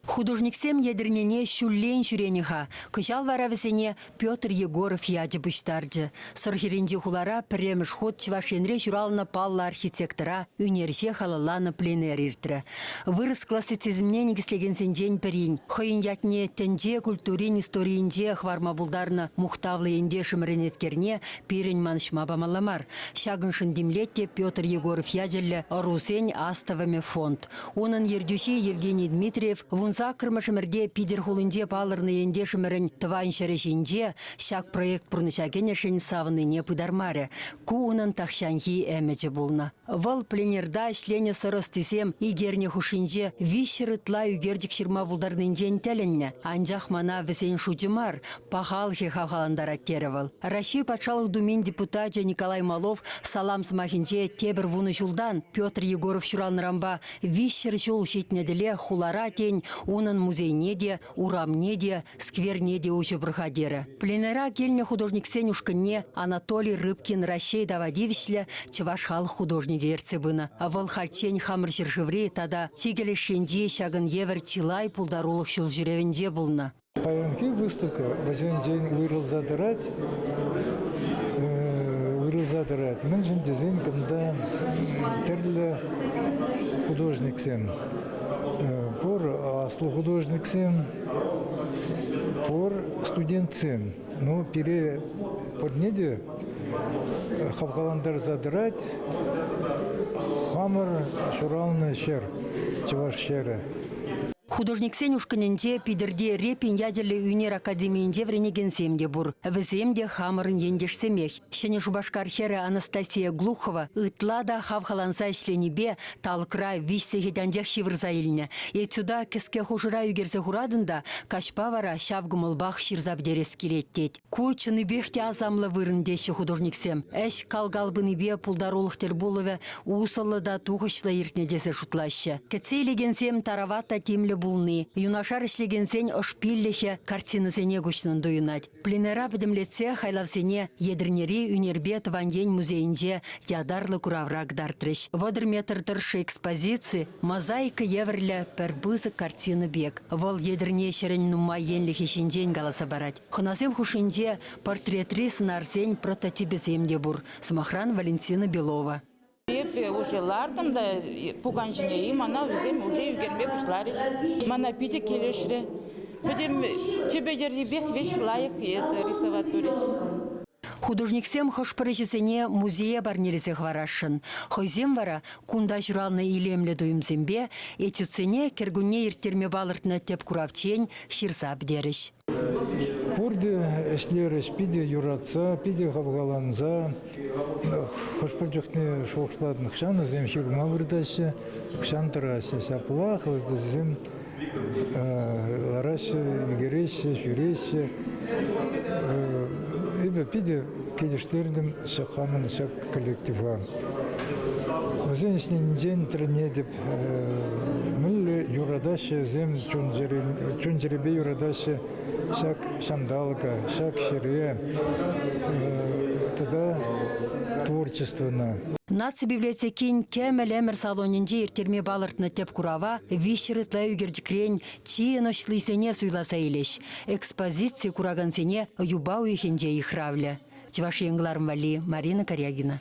Художниксем Етӗрнене ҫуллен ҫӳренӗ-ха, кӑҫал вара вӗсене Петр Егоров ячӗ пуҫтарчӗ. Сӑрхирӗнчи хулара пӗрремӗш хут Чӑваш Енре ҫуралнӑ паллӑ архитектора ӳнерҫе халалланӑ пленэр иртрӗ. Вырӑс классицизмне никӗслекенсенчен пӗрин, хӑйӗн ятне тӗнче культурин историйӗнче хӑварма пултарнӑ мухтавлӑ ентешӗмӗрӗн эткерне пирӗн манӑҫма памалла мар. Ҫакӑншӑн тимлет те Петр Егоров ячӗллӗ ӑрусен Астӑвӑмӗ фонд. Унӑн ертӳҫи Евгений Дмитриев вунсаккӑрмӗшӗмӗрте Питӗр хулинче палӑрнӑ ентешӗмӗрӗн тӑван ҫӗрӗ ҫинче ҫак проект пурнӑҫа кӗнӗшӗн савӑннине пытармарӗ. Ку унӑн тахҫанхи ӗмӗчӗ пулнӑ. Вӑл пленерта ӗҫленӗ сӑр ӑстисем икерне хушшинче виҫҫӗр ытла ӳкерчӗк ҫырма пултарнинчен тӗлӗннӗ. Анчах мана вӗсен шучӗ мар, Пахалӑхӗ хавхалантарать, терӗ вӑл. Раҫҫей Патшалӑх Думин депутачӗ Николай Малов салам сӑмахӗнче тепӗр вунӑ ҫултан Петр Егоров ҫуралнӑранпа виҫҫӗр ҫул ҫитнӗ тӗле хулара, тен, унӑн музейне те, урамне те, скверне те уҫӑ пӑрха терӗ. Пленэра килнӗ художниксен ушкӑнне Анатолий Рыбкин Раҫҫей тава тивӗҫлӗ чӑваш халӑх художникӗ ертсе пынӑ. Вӑл хальччен хамӑр ҫӗршыври тата чикӗ леш енчи ҫакӑн евӗр чылай пултарулӑх ҫул ҫӳревӗнче пулнӑ. Паянхи выставка вӗсенчен уйрӑлса тӑрать. Уйрӑлса тӑрать. Мӗншӗн тесен кунта тӗрлӗ художниксем пур аслӑ художниксем, пур студентсем. Ну, пире пурне те хавхалантарса тӑрать хамӑр ҫуралнӑ ҫӗр, чӑваш ҫӗрӗ. Художниксен ушкӑнӗнче Питӗрти Репин ячӗллӗ ӳнер академийӗнче вӗренекенсем те пур. Вӗсем те хамӑрӑн ентешсемех. Ҫӗнӗ Шупашкар хӗрӗ Анастасия Глухова ытла та хавхаланса ӗҫленипе талӑкра виҫ сехет анчах ҫывӑрса илнӗ. Этюда кӗске хушӑра ӳкерсе хуратӑн та каҫпа вара ҫав кӑмӑлпах ҫырса пӗтерес килет тет. Ку чӑннипех те асамлӑ вырӑн теҫҫӗ художниксем. Ӗҫ кал-кал пынипе пултарулӑх тӗл пулӑвӗ усӑллӑ та тухӑҫлӑ иртнӗ тесе шутлаҫҫӗ. Кӗтсе илекенсем тарават та тимлӗ пулни, юнашар ӗҫлекенсен ӑшпиллӗхӗ картинӑсене куҫнӑн туйӑнать. Пленэра пӗтӗмлетсе хайлавсене Етӗрнери ӳнерпе тӑван ен музейӗнче ятарлӑ куравра кӑтартрӗҫ. Вӑтӑр метр тӑршшӗ экспозици мозаика евӗрлӗ пӗр пысӑк картина пек. Вӑл Етӗрне ҫӗрӗн нумай енлӗхӗ ҫинчен каласа парать. Хӑнасем хушшинче портретри сӑнарсен прототипӗсем те пур, сӑмахран Валентина Белова. Эпӗ уже лартӑм та пукан ҫине-и, мана вӗсем уже ӳкерме пуҫларӗҫ. Мана питӗ килӗшрӗ. Пӗтӗм тӗпӗ йӗррипех веҫ лайӑх это рисовать турӗҫ. Художниксем хӑш-пӗр ӗҫӗсене музея парнелесе хӑварасшӑн. Хӑйсем вара кунта ҫуралнӑ илемлӗ туйӑмсемпе этюдсене кӗркунне ирттерме палӑртнӑ тӗп куравччен ҫырса пӗтерӗҫ. Пурте ӗҫлерӗҫ, питӗ юратса, питӗ хавхаланса. Хӑш-пӗр чухне шухӑшлатӑн, хӑҫан вӗсем ҫырма выртаҫҫӗ, хӑҫан тӑраҫҫӗ. Ҫаплах вӗсем лараҫҫӗ, ӳкереҫҫӗ, ҫӳреҫҫӗ. Эпӗ питӗ килӗштертӗм ҫак хамӑн ҫак коллектива. Вӗсен ӗҫленинчен тӗлӗнетӗп, Мӗнле юратаҫҫӗ вӗсем чун-чӗрепе юратаҫҫӗ ҫак ҫанталӑка, ҫак ҫӗре тата творчествӑна. Наци библиотекин кӗмӗл ӗмӗр салонӗнче ирттерме палӑртнӑ тӗп курава виҫҫӗр ытла ӳкерчӗкрен чи ӑнӑҫлисене суйласа илӗҫ. Экспозици куракансене юпа уйӑхӗнче йыхравлӗ. Чӑваш Ен кӑларӑм валли Марина Корягина.